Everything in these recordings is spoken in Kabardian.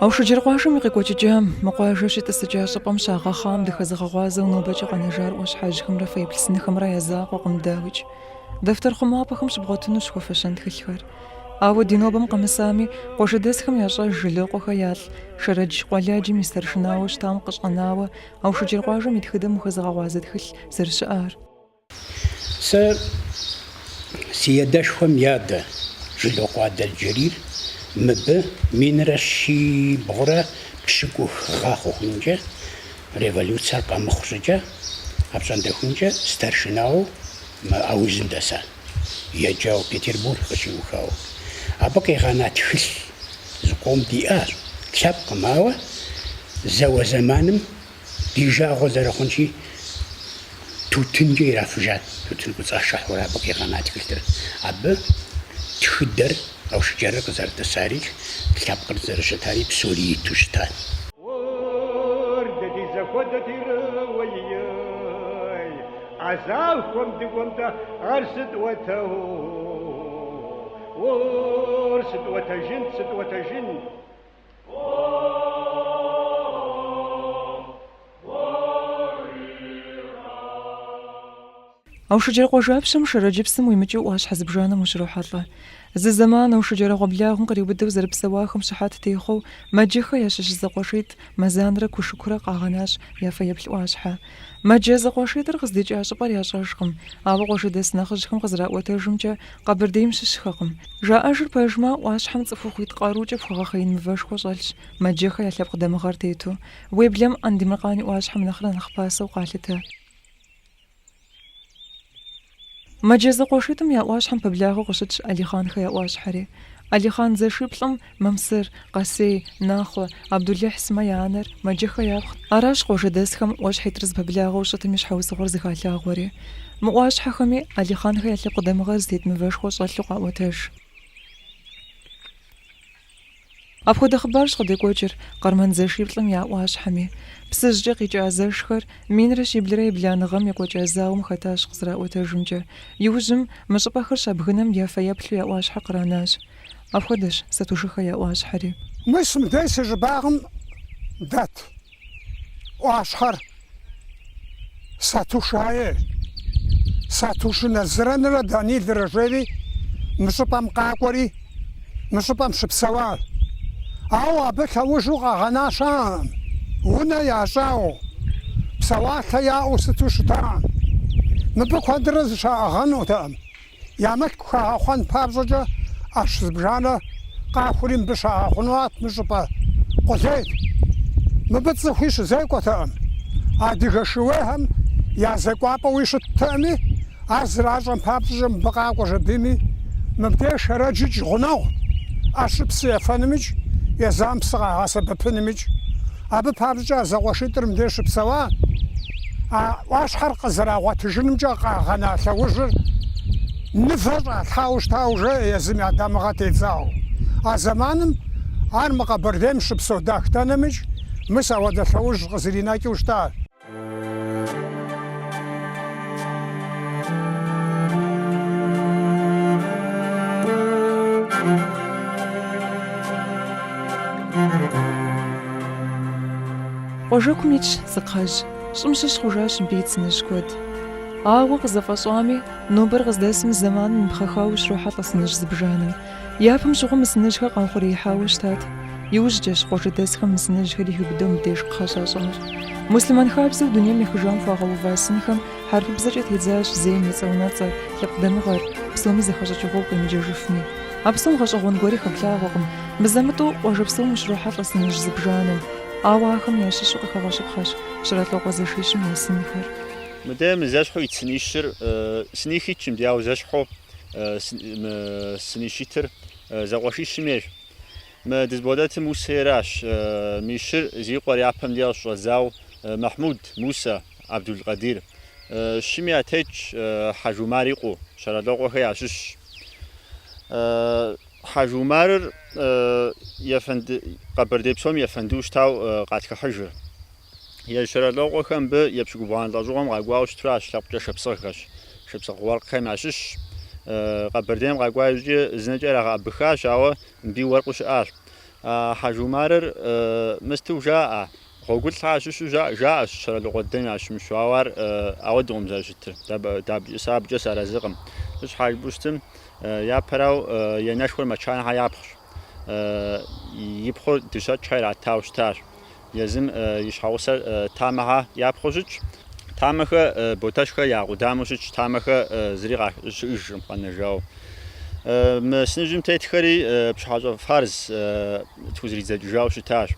Аушыджэр къуажэм и къекӏуэкӏыкӏам, мы къуажэ щитӏысыкӏа щӏыпӏэм щагъэхъам дыхэзыгъэгъуазэу нобэкӏэ къэнэжар ӏуащхьэжьхэмрэ фэеплъ сынхэмрэ я закъуэкъым, дауикӏ. Дэфтэр хъумапӏэхэм щыбгъуэтынущ хуэфэщэн тхылъхэр. Ауэ ди нобэм къэмысами, къуажэдэсхэм ящӏэж Жылокъуэхэ ялӏ Шэрэдж къуэладжэм и старшынауэ щытам къыщӏэнауэ Аушыджэр къуажэм и тхыдэм ухэзыгъэгъуазэ тхылъ зэрыщыӏар. Сэ си едэшхуэм и адэ Жылокъуэ Адэлджэрийр мыбы минрэ щибгъурэ пщыкӏух гъэ хъухункӏэ, революцэр къэмыхъу щӏыкӏэ, апщӏондэхункӏэ старшинауэ мы аузым дэса, еджауэ Петербург къыщиухауэ. Абы къигъэна тхылъ зыкъом диӏащ, лъэпкъым, ауэ зауэ зэманым, Ди жагъуэ зэрыхъунщи, тутынкӏэ ирафыжат, тутын кӏуэцӏашыхьурэ абы къигъэна тхылъыр. Абы тхыдэр, Аушыджэрыр къызэрытӏысари, лъэпкъыр зэрыщытари псори иту щытат. Орды ди зэхуэдэ тирыуэ ией, а захуэм дыкӏуэм-тӏэ ар сыт уэтэу? Ор сытӏуэтэжынт, сытӏуэтэжынт. Аушыджэр къуажапщэм Шэрэдж псым уимыкӏыу ӏуащхьэ зыбжанэм ущрохьэлӏэ. Зы зэман Аушыджэр ӏэгъуэблагъэм къриубыдэу зэрыпсэуахэм щыхьэт техъуэу Мэджэхэ ящыщ зэкъуэшитӏ Мэзанрэ Кушыкурэ къагъэнащ я фэеплъ ӏуащхьэ. Мэджэ зэкъуэшитӏыр къыздикӏа щӏыпӏэр ящӏэжкъым, ауэ къуажэдэс нэхъыжьхэм къызэраӏуэтэжымкӏэ, Къэбэрдейм щыщхэкъым. Жаӏэжыр пэжмэ, ӏуащхьэм цӏыхухъуитӏ къарукӏэ пхуэгъэхъеин мывэшхуэ щӏэлъщ, Мэджэхэ я лъэпкъ дамыгъэр тету. Уеблэм Андемыркъан и ӏуащхьэм нэхърэ нэхъ пасэу къалъытэ. Мэджэ зэкъуэшитӏым я ӏуащхьэм пэблагъэу къыщытщ Алихъанхэ я ӏуащхьэри. Алихъан зэшиплӏым Мамсыр, Къасей, Нахъуэ, Абдулыхь сымэ я анэр Мэджэхэ япхъут. Аращ къуажэдэсхэм ӏуащхьитӏыр зэпэблагъэу щытым и щхьэусыгъуэр зыхалъагъуэри. Мы ӏуащхьэхэми Алихъанхэ я лъэпкъ дамыгъэр зытет мывэшхуэ щӏэлъу къаӏуэтэж. Апхуэдэ хъыбарщ къыдекӏуэкӏыр Къармэн зэшиплӏым я ӏуащхьэми. Псыжькӏэ къикӏа зэшхэр минрэ щиблрэ ебланэ гъэм екӏуэкӏа зауэм хэтащ къызэраӏуэтэжымкӏэ. Иужьым мы щӏыпӏэхэр щабгынэм я фэеплъу я ӏуащхьэр къранащ. Апхуэдэщ, Сатушыхэ я ӏуащхьэри. Мис мыдей си щӏыбагъым дэт ӏуащхьэр Сатушае, Сатуши Назырэнрэ Данилрэ жери мы щӏыпӏэм къакӏуэри, мы щӏыпӏэм щыпсэуащ. Ауэ абы лъэужу къагъэна щаӏэкъым, унэ ящӏауэ, псэуалъэ яӏэу сыту щытакъым. Мыбы куэдрэ зыщаӏэгъэнутэкъым. Я мылъку хагъэхъуэн папщӏэкӏэ ӏэщ зыбжанэ къахури мыбы щагъэхъунуат мы щӏыпӏэ къулейт. Мыбы цӏыхуи щызекӏуэтэкъым. Адыгэ шууейхэм я зэкӏуапӏэуи щыттэкъыми, ар зэращӏэм папщӏэкӏэ мыбы къакӏуэ жыпӏэми, мыбдеж Шэрэджыкӏ гъунэгъут, ӏэщыр псы ефэнымикӏ, езам псы къагъэсэбэпынымикӏ. Абы папщӏэкӏэ а зэкъуэшитӏыр мыбдеж щыпсэуа а ӏуащхьэр къызэрагъуэтыжынымкӏэ къагъэна лъэужьыр мывэ щӏалъхьауэ щытауэ жаӏэ езым я дамыгъэ тедзауэ. А зэманым ар мы Къэбэрдейм щыпсэу дахтэнэмыкӏ мыс ауэдэ лъэужь къызэринэкӏыу щытащ. Къуажэкум итщ зы кхъэжь. Щӏым щыщ хъужащ мыбы ит сыныжь куэд. Ауэ къызэфӏэщӏами, нобэр къыздэсым зэманым ипхъэхауэ щрохьэлӏэ сыныжь зыбжанэм. Япэм щыгъуэ мы сыныжьхэр къаухъуреихьауэ щытат. Иужькӏэщ къуажэдэсхэм мы сыныжьхэр хиубыдэу мыбдеж кхъэ щащӏынур. Муслъымэн хабзэу дунейм ехыжам хуагъэува сынхэм хьэрыпыбзэкӏэ тедзащ зейм и цӏэунэцӏэр, лъэпкъ дамыгъэр, псоми зэхэщӏыкӏыгъуэу къемыджэжыфми. А псом гъэщӏэгъуэн гуэри хэплъагъуэкъым. Мызэ-мытӏэу къуажэ псом ущрохьэлӏэ сыныжь зыбжанэм. Ауэ ахэм ящыщу къыхэгъэщыпхъэщ Щэралъокъуэ зэшищым я сынхэр. Мыдэ мы зэщхьу ит сынищыр сыних итщ мыдэ, ауэ зэщхьу. сынищ итыр зэкъуэшищым ейщ. Мы дызбгъэдэтым Мусэ ейращ. Мы щыр зи къуэр япэм деж щыщӏэдзауэ Мэхьмуд, Мусэ, Абдул-Къадир. Щыми ятетщ Хьэж Умар и къуэу, Щэралъокъуэхэ ящыщщ. Хьэж Умарыр Къэбэрдей псом ефэнду щытау къатхыхьыжыр. Езы Щэралокъуэхэ мыбы епщыкӏубгъуанэ лӏэщӏыгъуэм къакӏуауэ щытращ лъэпкъкӏэ шапсыгъхэщ. Шапсыгъ уэркъхэм ящыщщ. Къэбэрдейм къакӏуа иужькӏэ зынэкӏэ ирагъэӏэбыхащ, ауэ мыби уэркъыу щыӏащ. Хьэжы Умарыр мысту жаӏэ, Гъуэгулъхьэ ящыщу жаӏэ, жаӏэщ Щэралокъуэ дыдэм ящымыщу, ауэ ар ауэдукъым зэрыщытыр, сэ абыкӏэ сыарэзыкъым. Щхьэ жыпӏэу щытым, япэрау янэшхуэр Мэчанэхьэ япхъущ, и пхъур Дыщэкӏхьэ иратау щытащ. Езым и щхьэгъусэр Тамэхэ япхъуу щытщ. Тамэхэ, Ботэщхэ я къудамэу щытщ, тамэхэ зыри къащыӏыжкъым къэнэжауэ. Мы сыныжьым тетхэри Пщыхьэщӏэ Фарз тхузэридзэкӏыжауэ щытащ.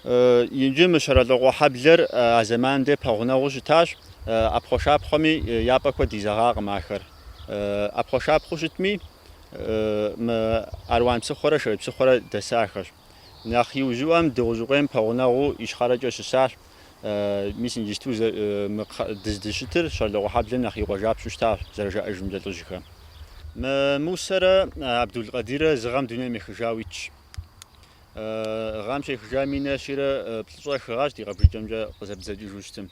Иджы мы Щэрэлӏыкъуэ хьэблэр а зэманым де пэгъунэгъуу щытащ, ӏэпхъуэшапхъуэми я пӏэ куэд изэгъакъым ахэр. ӏэпхъуэшапхъуэу щытми, мы Аруан псыхъуэрэ Шэрэдж псыхъуэрэ дэсахэщ. Нэхъ иужьыӏуэм Дыгъужьыкъуейм пэгъунэгъуу ищхъэрэкӏэ щысащ. Мис иджысту мы дыздыщытыр Щэрэлӏыкъуэ хьэблэм нэхъ и къуажапщэу щытащ, зэрыжаӏэжымкӏэ лӏыжьхэм. Мы Мусэрэ Абдул-Къэдирэ зы гъэм дунейм ехыжауэ итщ. Гъэм щехыжа минрэ щийрэ плӏыщӏрэ хы гъэщ, ди къэбжыкӏэмкӏэ къызэбдзэкӏыжу щытым.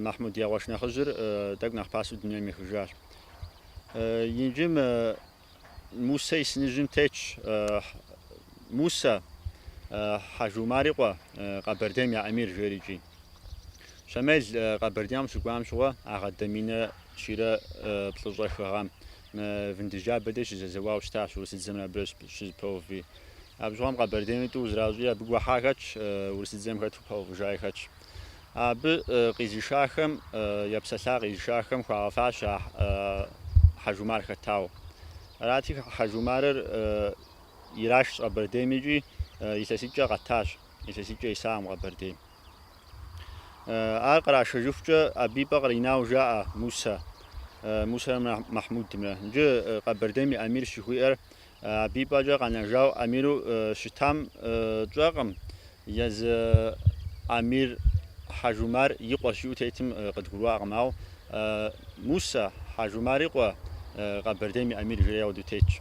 Махьмуд я къуэш нэхъыжьыр тӏэкӏу нэхъ пасэу дунейм ехыжащ. Иджы мы Мусэ и сыныжьым тетщ Мусэ Хьэжумар и къуэ Къэбэрдейм я эмир жери икӏи. Щамел Къэбэрдейм щыкӏуам щыгъуэ а гъэ де минрэ щийрэ плӏыщӏрэ хы гъэм Вындыджабэ де щызэзэуау щытащ, урысыдзэмрэ абырэ щызэпэуви. Абы щыгъуэм Къэбэрдейм тӏу зращӏи абы гуэхьа хэтщ, урысыдзэм хэту пэувыжаи хэтщ. Абы къизишахэм епсэлъа къизишахэм хуагъэфащэ а Хьэжумар хэтауэ. Арати, Хьэжумарыр ирашщ Къэбэрдейм икӏи илъэситӏкӏэ къэтащ, илъэситӏкӏэ исакъым Къэбэрдейм. Ар кърашэжыхукӏэ абы и пӏэ къринауэ жаӏэ Мусэ, Мусэрэ Махьмудымрэ. Иджы Къэбэрдейм и эмир щыхуиӏэр Абы и пӏэкӏэ къэнэжауэ эмиру щытам тщӏэркъым, езы эмир Хьэжумар и къуэщ жиӏэу тетым къыдгурыӏуакъым. Ауэ Мусэ, Хьэжумар и къуэ, Къэбэрдейм и эмир жиӏэри ауэдэу тетщ.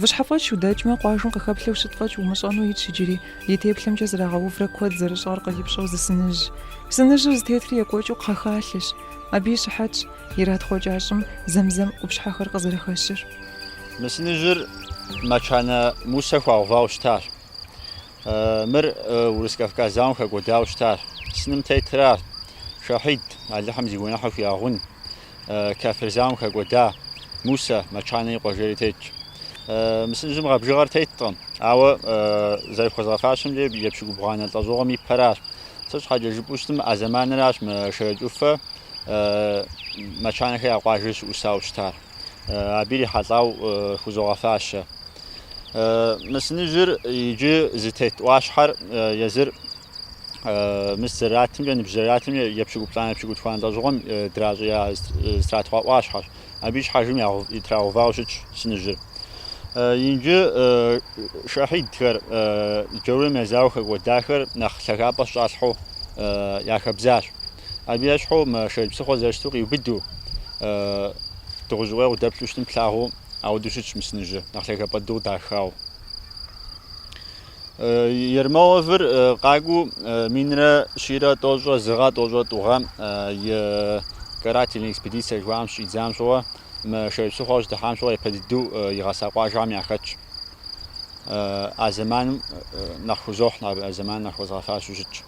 Выщхьэфӏэкӏ удэкӏмэ, къуажэм къыхэплъэу щыт фӏэкӏ умыщӏэну итщ иджыри, и теплъэмкӏэ зэрагъэуврэ куэд зэрыщӏар къипщӏэу зы сыныжь. Сыныжьыр зытетри екӏуэкӏыу кхъэхалъэщ. Абы и щыхьэтщ иратхъукӏа щӏым зэм-зэм къупщхьэхэр къызэрыхэщыр. Мы сыныжьыр Мэчанэ Мусэ хуагъэувауэ щытащ. Мыр Урыс-Кавказ зауэм хэкӏуэдауэ щытащ. Сыным тетыр аращ, Шэхьид, Алыхьым зи гуэныхьыр хуигъэгъун, кафир зауэм хэкӏуэда Мусэ, Мэчанэ и къуэ жери тетщ. Мы сыныжьым гъэ бжыгъэр теткъым, ауэ зэрыхуэзгъэфащэмкӏэ епщыкӏубгъуанэ лӏэщӏыгъуэм и пэращ. Сыт щхьэкӏэ жыпӏэу щытым, а зэманыращ мы Шэрэдж ӏуфэ Мэчанэхэ я къуажэр щыӏусауэ щытар. Абы ирихьэлӏауэ хузогъэфащэ. Мы сыныжьыр иджы зытет ӏуащхьэр езыр мыс зэратымкӏэ, ныбжь зэратымкӏэ епщыкӏуплӏанэ епщыкӏутхуанэ лӏэщӏыгъуэм дращӏея зэтратхъуа ӏуащхьэщ. Абы и щхьэжым итрагъэувауэ щытщ сыныжьыр. Иджы шахьидхэр джаурым язауэу хэкӏуэдахэр нэхъ лъагапӏэ щыщӏалъхьэу я хэбзащ. Абы ещхьу мы Шэрэдж псыхъуэ зэрыщыту къиубыду Дыгъужьыкъуей къуэ удэплъу щытым плъагъуу ауэдэу щытщ мы сыныжьыр, нэхъ лъагапӏэ дыдэу дахауэ. Ермоловыр къакӏуу минрэ щийрэ тӏощӏрэ зы гъэ, тӏощӏрэ тӏу гъэм и карательный экспедиция жыхуаӏэм щыщӏидзам щыгъуэ, мы Шэрэдж псыхъуэ щыдыхьам щыгъуэ япэ дыдэу игъэса къуажэм яхэтщ. А зэманым нэхъ хузохь, а зэманым нэхъ хуэзгъэфащэу щытщ.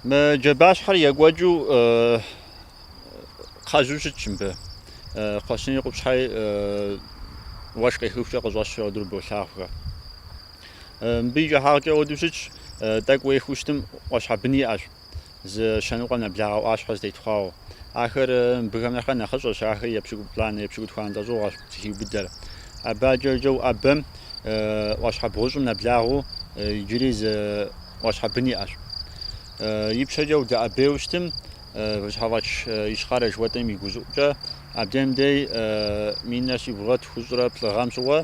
Мы джабащхьэр екӏуэкӏыу кхъэжьу щытщ мыбы. Кхъуэщыни къупщхьи уэшх къехыхукӏэ къыщӏэщу уэдурэ болъагъухэ. Мыбы и кӏыхьагъкӏэ уэду щытщ, тӏэкӏу уехыу щытым ӏуащхьэ бын иӏэщ, зы щэ ныкъуэ нэблагъэ ӏуащхьэ зэтетхъуауэ. Ахэр мыбыхэм нэхърэ нэхъыщӏэщ, ахэр епщыкӏуплӏанэ, епщыкӏутхуанэ лӏэщӏыгъуэщ зыхиубыдэр. Абы адэкӏэ уӏэбэм ӏуащхьэ бгъущӏым нэблагъэу иджыри зы ӏуащхьэ бын иӏэщ. Ипщэкӏэ удэӏэбейуэ щытым, Выщхьэфӏэч Ищхъэрэ жыхуэтӏэм и гущӏыӏукӏэ абдем дей минрэ щибгъурэ тхущӏрэ плӏы гъэм щыгъуэ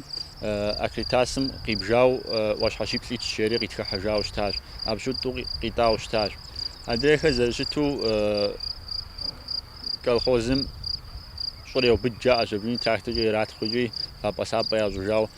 Акритасым къибжау ӏуащхьэ щиплӏ итщ жери къитхыхьэжауэ щытащ, абы щыщу тӏу къитӏауэ щытащ. Адрейхэр зэрыщыту колхозым щӏыр еубыд жаӏэщ, абыни тракторкӏэ иратхъукӏи, вапӏэ-сапӏэ ящӏыжау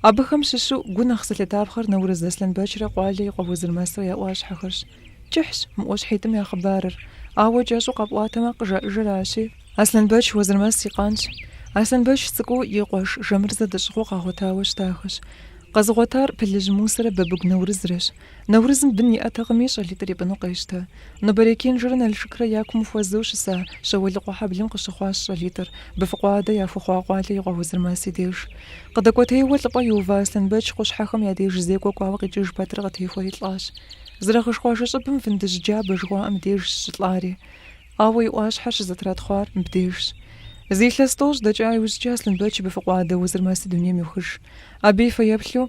Абыхэм щыщу гу нэхъ зылъытапхъэр Нэурыз Аслъэнбэчрэ Къуалэ и къуэ Уэзырмэсрэ я ӏуащхьэхэрщ. Кӏыхьщ мы ӏуащхьитӏым я хъыбарыр, ауэ кӏэщӏу къэпӏуатэмэ къыжаӏыжыращи, Аслъэнбэч Уэзырмэс и къанщ. Аслъэнбэч цӏыкӏуу и къуэш Жэмырзэ дэщӏыгъуу къагъуэтауэ щытахэщ. Къэзыгъуэтар Пылыжь Мусэрэ Бабыгу Нэурызрэщ. Нэурызым бын иӏэтэкъыми, щӏалитӏыр ипӏыну къещтэ. Нобэрей Кэнжэрэ Налшыкрэ я кум хуэзэу щыса Щэуэлыкъуэ хьэблэм къыщыхъуащ щӏалитӏыр, быфыкъуэ адэ яхуэхъуа Къуалэ и къуэ Уэзырмэс и деж. Къыдэкӏуэтейуэ лӏыпӏэ иува Аслъэнбэч къущхьэхэм я деж зекӏуэ кӏуауэ къикӏыж пэтрэ къытехуэри лӏащ. Зэрэгъыж къуажэ щӏыбым Фындыжь джабэ жыхуаӏэм дежщ щылӏари. Ауэ и ӏуащхьэр щызэтратхъуар мыбдежщ. Зы илъэс тӏощӏ дэкӏа иужькӏэ Аслъэнбэч быфыкъуэ адэ Уэзырмэси дунейм йохыж. Абы и фэеплъу,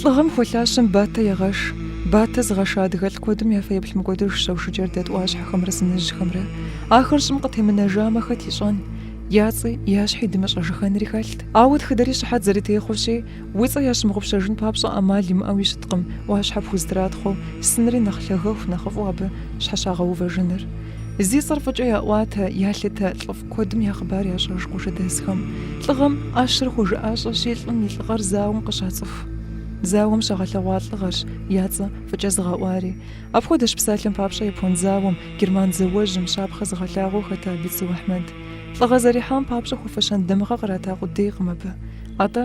Лӏыгъэм хуэлъащэм батэ егъэш. Батэ зыгъэша адыгэ лӏ куэдым я фэеплъ мыкӏуэдыжщ Аушыджэр дэт ӏуащхьэхэмрэ сыныжьхэмрэ. Ахэр щӏым къытемынэжамэ, хэт ищӏэн? Я цӏи, я щхьи дымыщӏэжыхэнри хэлът. Ауэ тхыдэри щыхьэт зэрытехъуэщи, уи цӏэ ящымыгъупщэжын папщӏэ ӏэмал имыӏэуи щыткъым ӏуащхьэ пхузэтратхъуэу, сынри нэхъ лъагэху нэхъыфӏу абы щхьэщагъэувэжыныр. Зи цӏэр фӏыкӏэ яӏуатэ, ялъытэ лӏыфӏ. Куэдым я хъыбар ящӏэж къуажэдэсхэм. Лӏыгъэм ӏэщэр хуэжыӏэщӏэщи, лӏым и лӏыгъэр зауэм къыщацӏыху. Зауэм щагъэлъэгъуа лӏыгъэрщ я цӏэ фӏыкӏэ зыгъэӏуари. Апхуэдэщ псалъэм папщӏэ япон зауэм, герман зауэжьым, щапхъэ зыгъэлъагъуэу хэта Бицу Ахьмэд. Лӏыгъэ зэрихьам папщӏэ хуэфэщэн дамыгъэ кърата къудейкъым абы. Атӏэ,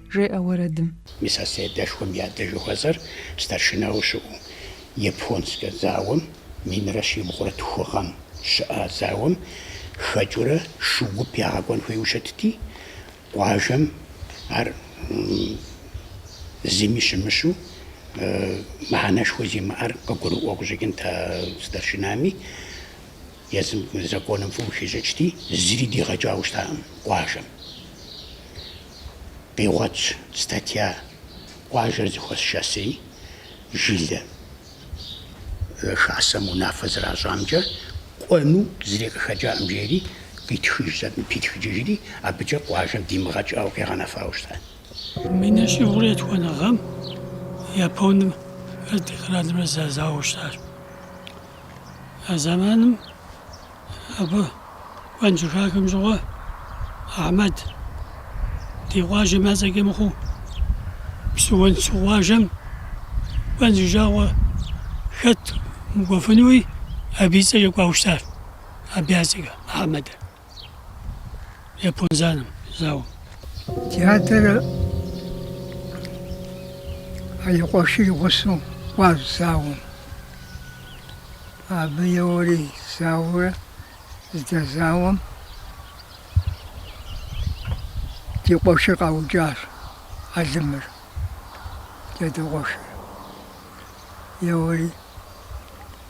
жеӏэ уэрэдым. Мис а си адэшхуэм и адэ жыхуэсӏэр старшинауэ щыӏэу японскэ зауэм минрэ щибгъурэ тху гъэм щыӏа зауэм хэкӏыурэ шу гуп ягъэкӏуэн хуейуэ щытти, къуажэм ар зыми щымыщу, мыхьэнэшхуэ зимыӏэр къыгурыӏуэу къыщӏэкӏынт а старшинами. Езым законым фӏыуэ хищӏыкӏти, зыри дигъэкӏауэ щытакъым къуажэм. Къигъуэтщ статья Къуажэр зэхуэс хасэ, жылэ хасэм унафэ зэращӏамкӏэ кӏуэну зыри къыхэкӏакъым жери къитхыжщ, питхыкӏыжри абыкӏэ къуажэм димыгъэкӏауэ къигъэнэфауэ щыта. Минрэ щибгъурэ етхуанэ гъэм японым, францымрэ зэзауэу щытащ. А зэманым абы кӏуэн щыхахэм щыгъуэ Ахьмэд ди къуажэм я цӏэкӏэ мыхъуу Псыгуэнсу къуажэм кӏуэн зи жагъуэ хэт мыкӏуэфынуи абы и цӏэкӏэ кӏуауэ щытащ абы я цӏэкӏэ Ахьмэдыр. япон зауэм, зауэм. Ди адэр и къуэши и гъусэу кӏуащ зауэм. Абы еуэри зауэурэ здэзауэм ди къуэшыр къаукӏащ, Алимыр, ди адэ къуэшыр. Еуэри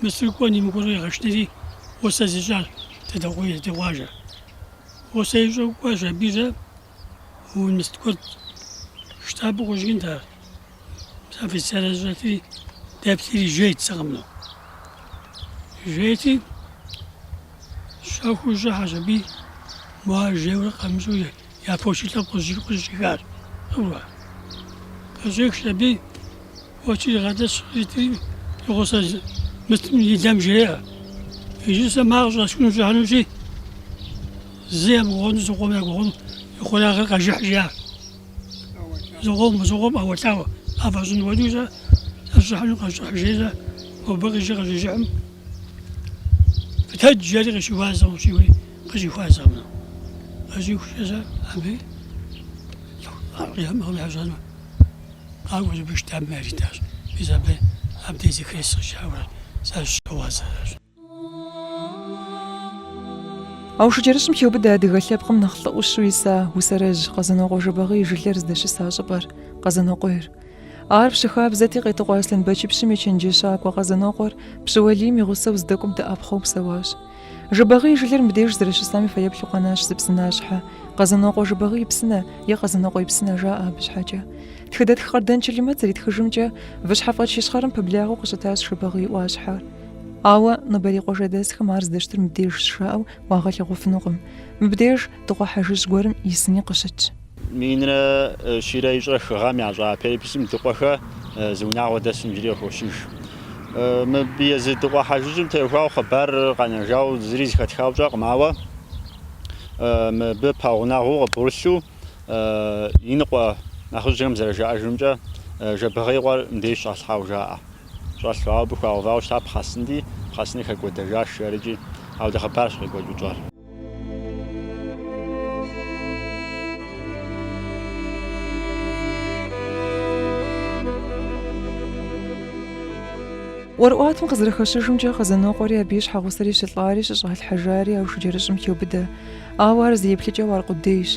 Мыщыр кӏуэн мыкӏуэну егъэшынэри, гъусэ зищӏащ Дадэкъуей ди къуажэр. Гъусэ ищӏу кӏуащ абы зэ умыст куэд. Штабу къыщӏэкӏынт ар. Мис офицерыр зыщӏэтри, дэплъри жейт зы къэмынэу. Жейти, щэхуу щӏыхьэщ аби, мор жейуэ къамыщӏэу Я фочи лъэпкъ къыщӏихащ. Къыщӏихщ аби, фочи игъэдэщ, къитри и гъусэ мытым и лэм жреӏэ. Иджы сэ мор къыщӏэсхуну сыщӏыхьэнущи, зы емыгъуэну зыкъом ягугъэну и хъуреягъыр къэжыхь жиӏащ. Зыкъом, зыкъом ӏэуэлъауэ, къафӏэщӏын хуэдэу сэ сыщӏыхьэну къэжыхь жей сэ, мобы къыщи къыщижыхьым, фытэдж, жери къыщыхуащӏэ, къыщӏихури. Къыщыхуащӏэмэ, къыщыхукӏэ сэ абы лӏыхъужьыгъэм къыщӏэну къакӏуэ зыпышт абым яритащ. Мис абы абдей зы крест къыщӏауэ сэ сыщыгъуазэращ. Аушыджэрыщӏым хеубыдэ адыгэ лъэпкъым нэхъ лӏы ӏущу иса усэрэжь Къэзанокъуэ Жэбагъы и жылэр здэщыса щӏыпӏэр, Къэзанокъуейр. Ар пщы хабзэти, Къетыкъуэ Аслъэнбэчыпщым и чэнджэщакӏуэ Къэзанокъуэр пщы уэлийм и гъусэу здэкӏуэм дэӏэпхъуэу псэуащ. Жэбагъы и жылэр мыбдеж зэрыщысам и фэеплъу къэнащ зы псынащхьэ. Къэзанокъуэ Жэбагъы и псынэ е Къэзанокъуэ и псынэ жаӏэ абы щхьэкӏэ. Тхыдэтх Къардэн Чылымэт зэритхыжымкӏэ, Выщхьэфӏэкӏ Ищхъэрэм пэблагъэу къыщытащ Жэбагъы и ӏуащхьэр. Ауэ нобэрей къуажэдэсхэм ар здэщытыр мыбдежщ жаӏэу уагъэлъэгъуфынукъым. Мыбдеж Дыкъуэ Хьэжыжь гуэрым и сыни къыщытщ. Минрэ щийрэ ищӏрэ хы гъэм ящӏа переписым Дыкъуэхэ зы унагъуэ дэсу иджыри къыхощыж. Мыбы езы Дыкъуэ Хьэжыжьым теухуауэ хъыбар къэнэжауэ зыри зэхэтхауэ тщӏэкъым, ауэ мыбы пэгъунэгъуу къыбгъурылъу иныкъуэ нэхъыжьхэм зэрыжаӏэжымкӏэ, Жэбагъы и къуэр мыбдеж щӏалъхьауэ жаӏэ. Щӏэлъу, ауэ абы хуагъэувауэ щытар пхъэсынти, пхъэсыныр хэкӏуэдэжащ, арыкӏи, ауэ дэ хъыбарщ къекӏуэкӏыу тщӏэр. ӏуэрыӏуатэм къызэрыхэщыжымкӏэ Къэзанокъуэри абы и щхьэгъусэри щылӏари щыщӏалъхьэжари Аушыджэрыщӏым хеубыдэ. Ауэ ар зы еплъыкӏэу аркъудейщ.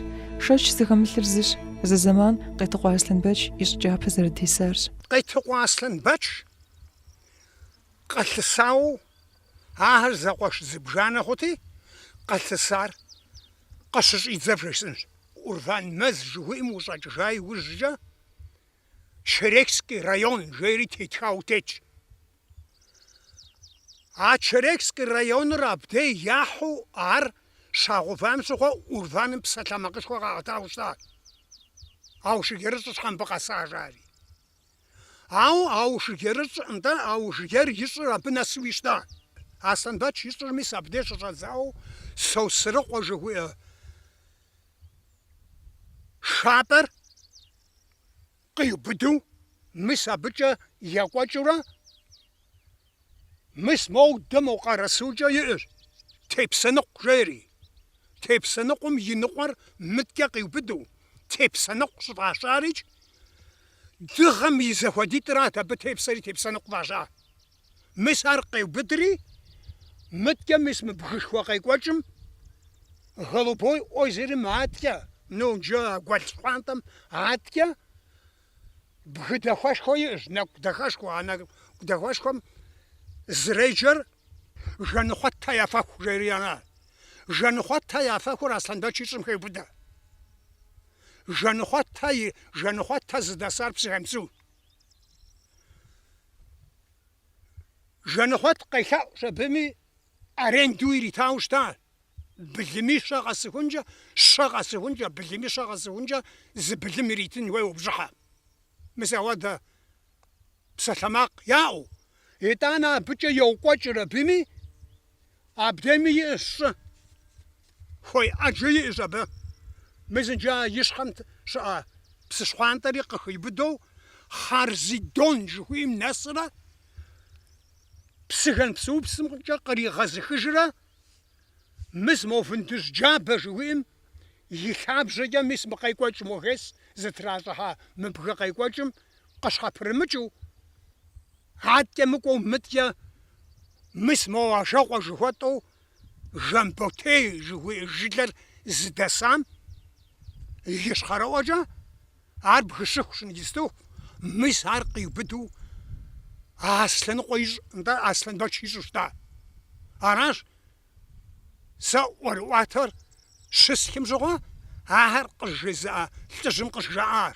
Шэч зыхэмылъыр зыщ, зы зэман Къетыкъуэ Аслъэнбэч и щӏы кӏапэ зэрытесарщ. Къетыкъуэ Аслъэнбэч къэлъысауэ Ахэр зэкъуэш зыбжанэ хъути, къэлъысар къыщыщӏидзэр вжесӏэнщ. Урван мэз жыхуиӏэм ущӏэкӏыжа иужькӏэ Черекский район жери тетхауэ тетщ. А Черекский районыр абдей яхьу ар щагъэувам щыгъуэ Урваным псалъэмакъышхуэ къаӏэтауэ щытащ. Аушыгерыщӏ щхьэ мыбы къэса жари. Ауэ Аушыгерыщӏ нтӏэ, Аушыгер и щӏыр абы нэсуи щыта. Аслъэнбэч и щӏыр мис абдеж щыщӏэдзауэ Сосрыкъуэ жыхуиӏэ щӏапӏэр къиубыду мис абыкӏэ екӏуэкӏыурэ, Мис моудэ мо Къэрэсукӏэ иӏэщ Тепсэныкъу жери. Тепсэныкъум и ныкъуэр мыткӏэ къиубыду, Тепсэныкъу щӏыфӏащарикӏ, дыгъэм и зэхуэдитӏырат абы тепсэри Тепсэныкъу фӏаща. Мис ар къеубыдри, мыткӏэ мис мы бгышхуэ къекӏуэкӏым Голубой озерым аткӏэ, ну, иджы а гуэл щхъуантӏэм аткӏэ, Бгы дахэшхуэ иӏэщ, нэкӏу дахэшхуэ. А нэкӏу дахэшхуэм зэреджэр Жанхъуэтхэ я фэху жери ара. Жанхъуэтхэ я фэхур Аслъэнбэч и щӏым хеубыдэ. Жанхъуэтхэ и Жанхъуэтхэ зыдэсар Псыгуэнсу. Жанхъуэт къелъэӏущ абыми аренду иритауэ щыта. Былыми щэ къэсыхункӏэ, щэ къэсыхункӏэ, былыми щэ къэсыхункӏэ зы былым иритын хуейуэ бжьыхьэ. Мис ауэдэ псалъэмакъ яӏэу. Итӏанэ абыкӏэ йокӏуэкӏыр абыми, абдеми иӏэщ щӏы хуей ӏэджэ иӏэщ абы. Мис иджы а и щхьэм щыӏэ псы щхъуантӏэри къыхиубыдэу Харзидон жыхуиӏэм нэсрэ, Псыгуэнсу псымкӏэ къригъэзыхыжрэ, Мис мо Вындыжь джабэ жыуиӏэм и лъабжьэкӏэ мис мы къекӏуэкӏым мо ГЭС зытращӏыхьа мы бгы къекӏуэкӏым къыщхьэпрымыкӏыу, аткӏэ мыкӏуэу мыткӏэ мис мо Ажэкъуэ жыхуэтӏэу Жамботей жыхуиӏэ жылэр зыдэсам ищхъэрэӏуэкӏэ, Ар бгыщыху щынгистыху, мис ар къиубыдэу Аслъэныкъуэ и щӏ, нтӏэ, Аслъэнбэч и щӏу щыта. Аращ сэ ӏуэрыӏуатэр щысхым щыгъуэ ахэр къызжезыӏа лӏыжьым къызжаӏар.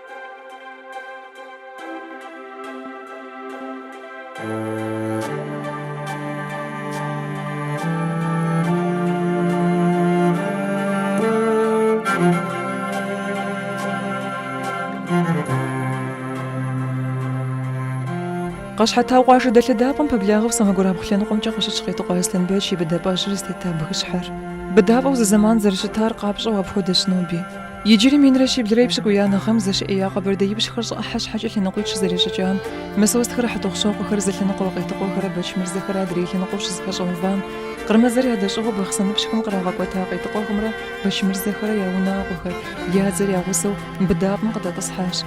Къэщхьэтау къуажэ дэлъэдапӏэм пэблагъэу сэмэгурабгъу лъэныкъуэмкӏэ къыщытщ Къетыкъуэ Аслъэнбэч и быдапӏэжьыр зытета бгыщхьэр. Быдапӏэу зы зэман зэрыщытар къапщӏэу апхуэдэщ ноби. Иджыри минрэ щиблрэ и пщыкӏуиянэ гъэм зэщыӏея къэбэрдеипщхэр щӏы ӏыхьэ щхьэкӏэ лъэныкъуитӏ щызэрищӏыкӏам, Мысостхэрэ Хьэтӏохъущокъуэхэрэ зы лъэныкъуэ, Къетыкъуэхэрэ Бэчмырзэхэрэ адрей лъэныкъуэу щызэпэщӏэувам, кърымыдзэр ядэщӏыгъуу бахъсэныпщхэм кърагъэкӏуэта Къетыкъуэхэмрэ Бэчмырзэхэрэ я унагъуэхэр, я дзэр я гъусэу, быдапӏэм къыдэтӏысхьащ.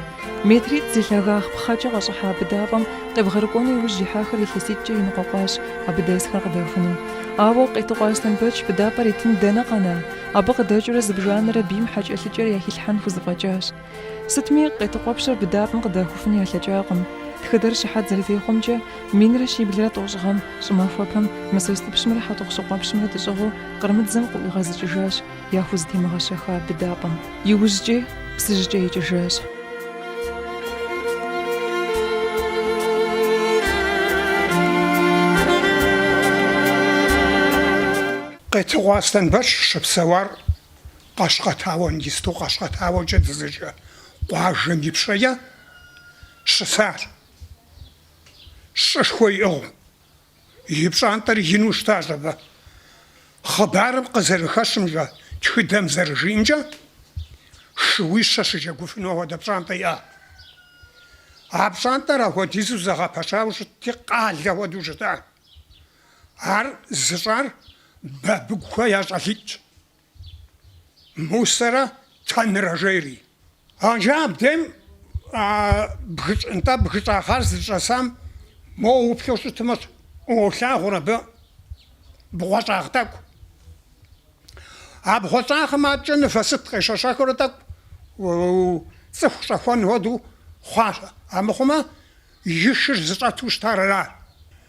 Метритӏ зи лъагагъ пхъэкӏэ къэщӏыхьа быдапӏэм къебгъэрыкӏуэну иужь ихьахэр илъэситӏкӏэ еныкъуэкъуащ абы дэсхэр къыдахуну. Ауэ, Къетыкъуэ Аслъэнбэч, быдапӏэр итын дэнэ къэна? Абы къыдэкӏыурэ зыбжанэрэ бийм хьэкӏэлъыкӏэр яхилъхьэн хузэфӏэкӏащ. Сытми, Къетыкъуэпщыр быдапӏэм къыдахуфын ялъэкӏакъым. Тхыдэр щыхьэт зэрытехъуэмкӏэ, минрэ щиблрэ тӏощӏ гъэм, щӏымахуэпэм, Мысостыпщымрэ Хьэтӏохъущокъуэпщымрэ дэщӏыгъуу кърымыдзэм къыӏуигъэзыкӏыжащ, яхузэтемыгъэщэха быдапӏэм. Иужькӏи, Псыжькӏэ икӏыжащ. Къетыкъуэ Аслъэнбэч щыпсэуар Къэщкъэтауэ иджысту Къэщкъэтауэкӏэ дызэджэ къуажэм ипщэкӏэ щысар. Щӏышхуэ иӏыгъыу, и пщӏантӏэр ину щытащ абы. Хъыбарым къызэрыхэщымкӏэ, тхыдэм зэрыжиӏэмкӏэ, шууищэ щыджэгуфыну апхуэдэ пщӏантӏэ иӏа. А пщӏантӏэр апхуэдизу зэгъэпэщауэ щытти, къалэ хуэдэу щыта. Ар зыщӏар бабыгухэ я щӏалитӏщ, Мусэрэ Тэнрэ жери. Арджэ абдем нтӏэ бгыщӏагъ ар зыщӏэсам мо уплъэу щытымэ, уолъагъур абы бгъуэщӏагъ тӏэкӏу. А бгъуэщӏагъым абыкӏэ мывэ сыт къещэщэхыурэ тӏэкӏу цӏыху щӏэхуэн хуэдэу хъуащ, амыхъумэ и шыр зыщӏэту щытар ара?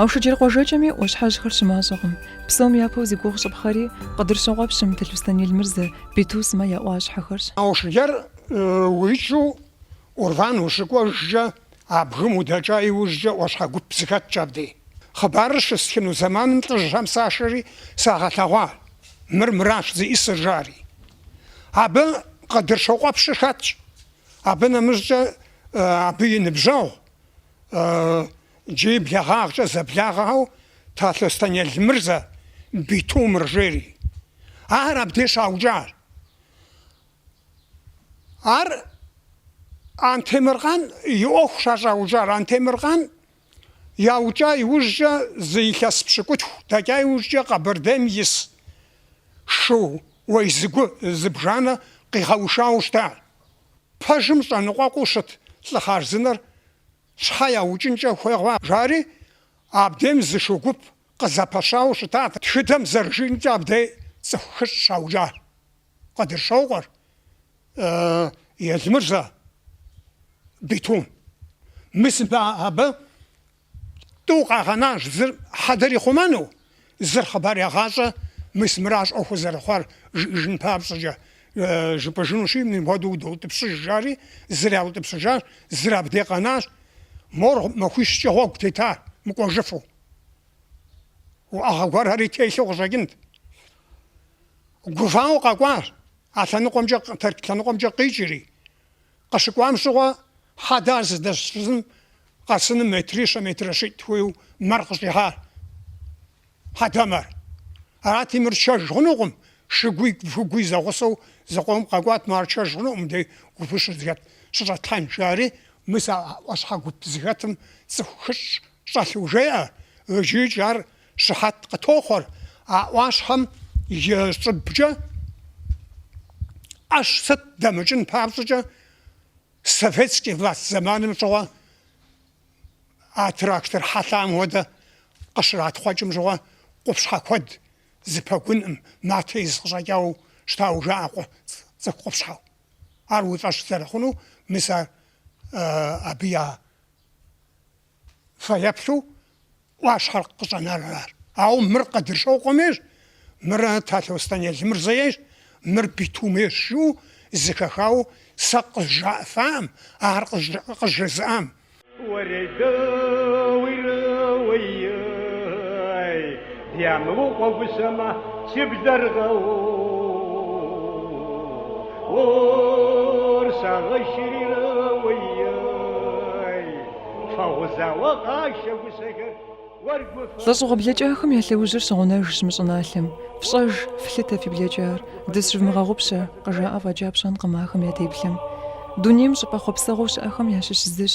Аушыджэр къуажэкӏэми ӏуащхьэжьхэр щымащӏэкъым. Псом япэу зи гугъу щӏыпхъэри Къыдырщокъуэпщым, Талъостэн Елмырзэ, Бету сымэ я ӏуащхьэхэрщ. Аушыджэр уикӏыу Урван ущыкӏуэжкӏэ, а бгым удэкӏа иужькӏэ ӏуащхьэ гуп зыхэтщ абдей. Хъыбарыр щыстхыну зэманым лӏыжьхэм сашэри сагъэлъэгъуа, мыр мыращ зиӏысыр жари. Абы Къыдырщокъуэпщыр хэтщ. Абы нэмыщӏкӏэ абы и ныбжьэгъу джы и блэгъагъкӏэ зэблагъэу Талъостэн Елмырзэ, Битумыр жери, ахэр абдей щӏаукӏар, ар Антемыркъан и ӏуэхущ а щӏаукӏар. Антемыркъан Яукӏа иужькӏэ зы илъэс пщыкӏутху дэкӏа иужькӏэ Къэбэрдейм ис шууей зыгу зыбжанэ къигъэушауэ щыта. Пэжым щӏэныкъуэкъуу щыт лӏы хъарзынэр щхьэ яукӏынкӏэ хуей хъуа? жари, абдейм зы шу гуп къызэпэщауэ щытат. Тхыдэм зэрыжиӏэмкӏэ абдей цӏыху хыщӏ щаукӏа. Къыдырщокъуэр, Елмырзэ, Бетум. Мы сымэ абы тӏу къагъэнащ зыр хьэдэр ихъумэну, зыр хъыбар ягъащӏэ, мис мыращ ӏуэхур зэрыхъуар жиӏэжын папщӏэкӏэ, жыпӏэжынущи, мыпхуэдэу удоутӏыпщыж, жари, зыр яутӏыпщыжащ, зыр абдей къэнащ. Мор махуищкӏэ гъуэгу тета мыкӏуэжыфу. Уӏэгъэ гуэрхэри телъу къыщӏэкӏынт. Гувауэ къэкӏуащ а лъэныкъуэмкӏэ Тэрч лъэныкъуэмкӏэ къикӏри. Къыщыкӏуам щыгъуэ хьэдэхэр зыдэщызым къэсыным метрищэ метрыщитӏ хуейу мэр къыщӏихьащ. Хьэдэмэр. Арати, мыр тшэж хъунукъым, шыгуи выгуи зэгъусэу зыкъом къэкӏуат, мо ар тшэж хъунукъым, дэ гупыщыр зыхэт щыщӏэтлъхьэн, жари. Мис а ӏуащхьэ гуп зыхэтым цӏыху хыщӏ щӏэлъу жеӏэ, икӏи ар Щыхьэт къытохъуэр а ӏуащхьэм и щӏыбкӏэ, ӏэщ, сыт дэмыкӏын папщӏэкӏэ, советскэ власть зэманым щыгъуэ а трактор хьэлъам хуэдэ къыщратхъукӏым щыгъуэ къупщхьэ куэд зы пэгуным, матэ из къыщӏэкӏауэ щытауэ жаӏэ къу цӏыху къупщхьэу. Ар уи фӏэщ зэрыхъунур мис ар абы я фэеплъу ӏуащхьэр къыщӏэнар аращ. Ауэ мыр Къэдыршокъуэм ейщ, мыр Талъостэн Елымырзэ ейщ, мыр Биту ейщ жыӏэу зэхэхауэ сэ къызжаӏэфакъым, ар къызжезыӏамэ. Ямыукъуэ гущэмэ си блэр гъэуур сагъэшри рыуей, фэгъузауэ къашэ гущэхэр уэр гу фэ. Лӏэщӏыгъуэ блэкӏахэм я лъэужьыр щыгъунэжщ мы щӏыналъэм. Фщӏэж, флъытэ фи блэкӏар, дысщывмыгъэгъупщэ, къыжаӏэ фӏэкӏа пщӏэнкъым ахэм я теплъэм. Дунейм щӏыпӏэ хъуэпсэгъуэу щыӏэхэм ящыщ зыщ.